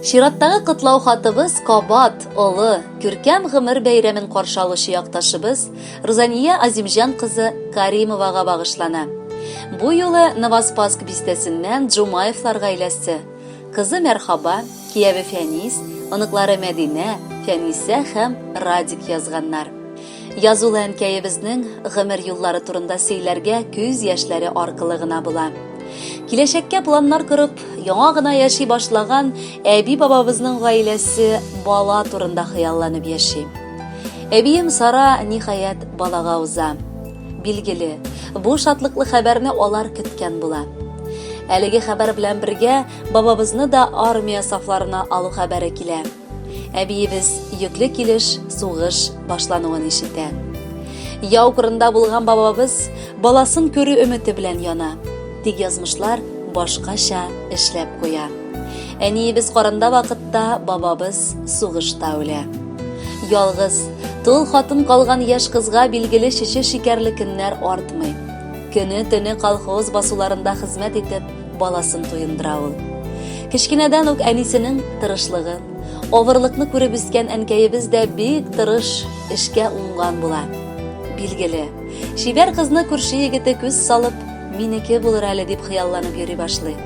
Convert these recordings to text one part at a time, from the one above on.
Чираттагы котлау хатыбыз кабат, олы, күркәм гомер бәйрәмен каршы алучы якташыбыз Рузания Азимҗан кызы Каримовага багышлана. Бу юлы Новоспаск бистәсеннән Джумаевлар гаиләсе, кызы Мәрхаба, кияве Фәнис, оныклары Мәдинә, Фәнисә һәм Радик язганнар. Язулы әнкәебезнең гомер юллары турында сөйләргә күз яшьләре аркылы гына була. Киләчәккә планнар корып, яңа гына яши башлаган әби-бабабызның гаиләсе бала турында хыялланып яши. Әбием Сара, ниһаять, балага уза. Билгеле, бу шатлыклы хәбәрне алар көткән була. Әлеге хәбәр белән бергә бабабызны да армия сафларына алу хәбәре килә. Әбиебез йөкле килеш сугыш башлануын ишетә. Яу кырында булган бабабыз баласын күрү өмете белән яна. Тик язмышлар башкача эшләп куя. Әниебез карында вакытта бабабыз сугышта үлә. Ялгыз, тол хатын калган яшь кызга билгеле шеше шикәрле көннәр артмый. Көне-төне колхоз басуларында хезмәт итеп, баласын туендыра ул. Кечкенәдән үк әнисенең тырышлыгын, авырлыкны күреп үскән әнкәебез дә бик тырыш, эшкә уңган була. Билгеле, чибәр кызны күрше егете күз салып, минеке булыр әле дип хыялланып йөри башлый.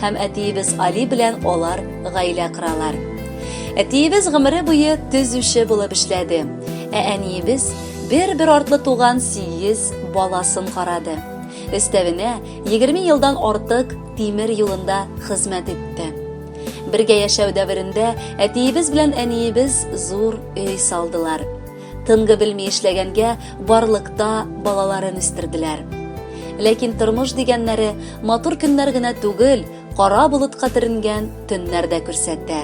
Һәм әтиебез Али белән алар гаилә коралар. Әтиебез гомере буе төзүче булып эшләде, ә әниебез Бер-бер артлы туган сигез баласын карады. Өстәвенә, егерме елдан артык тимер юлында хезмәт итте. Бергә яшәү дәверендә әтиебез белән әниебез зур өй салдылар. Тынгы белми эшләгәнгә барлыкта балаларын үстерделәр. Ләкин тормыш дигәннәре матур көннәр генә түгел, кара болытка төренгән төннәр дә күрсәтә.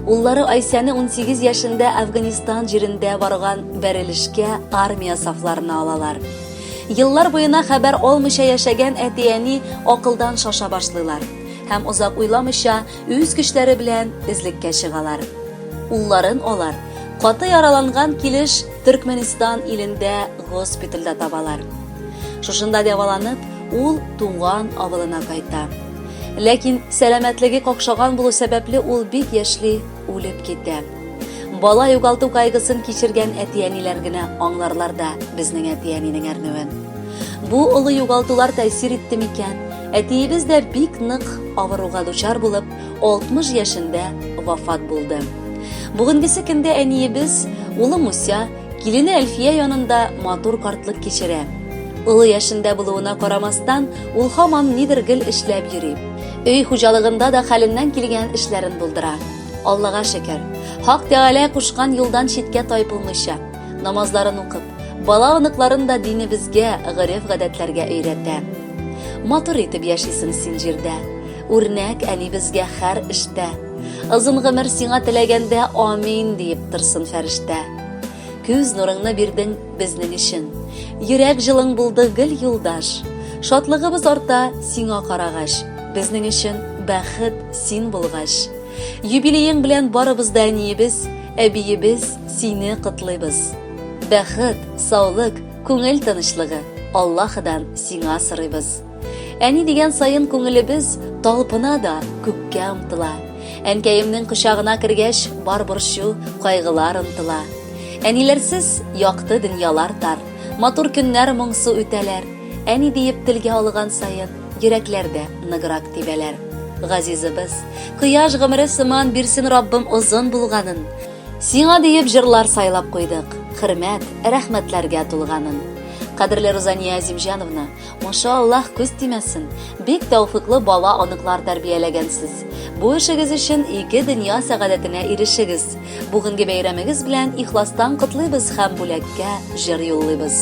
Уллары Айсәне 18 яшендә Афганистан җирендә барган бәрелешкә армия сафларына алалар. Еллар буена хәбәр алмыйча яшәгән әти-әни акылдан шаша башлыйлар һәм озак уйламыйча үз көчләре белән эзлеккә чыгалар. Улларын алар каты яраланган килеш Төркменистан илендә госпитальдә табалар. Шушында дәваланып, ул туган авылына кайта. Ләкин сәламәтлеге какшаган булу сәбәпле ул бик яшьли үлеп китә. Бала югалту кайгысын кичергән әти-әниләр генә аңларлар да безнең әти-әнинең әрнүен. Бу олы югалтулар тәэсир итте микән? Әтиебез дә бик нык авыруга дучар булып, 60 яшендә вафат булды. Бүгенгесе көндә әниебез, улы Муся, килене Әлфия янында матур картлык кичерә. Олы яшендә булуына карамастан, ул һаман нидер гел эшләп йөри. Өй хуҗалыгында да хәленнән килгән эшләрен булдыра. Аллага шөкер, Хак Тәгалә кушкан юлдан читкә тайпылмыйча, намазларын укып, бала-оныкларын да динебезгә, гореф-гадәтләргә өйрәтә. Матур итеп яшисең син җирдә. Үрнәк әни безгә хәр эштә. Озын гомер сиңа теләгәндә амин диеп торсын фәрештә. Күз нурыңны бирдең безнең өчен. Йөрәк җылың булды гел юлдаш. Шатлыгыбыз арта сиңа карагач. Безнең өчен бәхет син булгач. Юбилеең белән барыбыз да әниебез, әбиебез сине котлыйбыз. Бәхет, саулык, күңел тынычлыгы Аллаһыдан сиңа сорыйбыз. Әни дигән саен күңелебез талпына да күккә омтыла. Әнкәемнең кочагына кергәч, бар борчу, кайгылар онтыла. Әниләрсез якты дөньялар тар, матур көннәр моңсу үтәләр. Әни диеп телгә алган саен, йөрәкләр дә ныграк тибәләр. Газизыбыз, кояш гомере сыман бирсен Раббым озын булганын. Сиңа диеп җырлар сайлап куйдык, хөрмәт, рәхмәтләргә тулганын. Кадерле Рузания Азимҗановна, Маша Аллах күз тимәсен. Бик тәүфыклы бала аныклар тәрбияләгәнсез. Бу эшегез өчен ике дөнья сәгадәтенә ирешегез. Бүгенге бәйрәмегез белән ихластан котлыйбыз һәм бүләккә җыр юллыйбыз.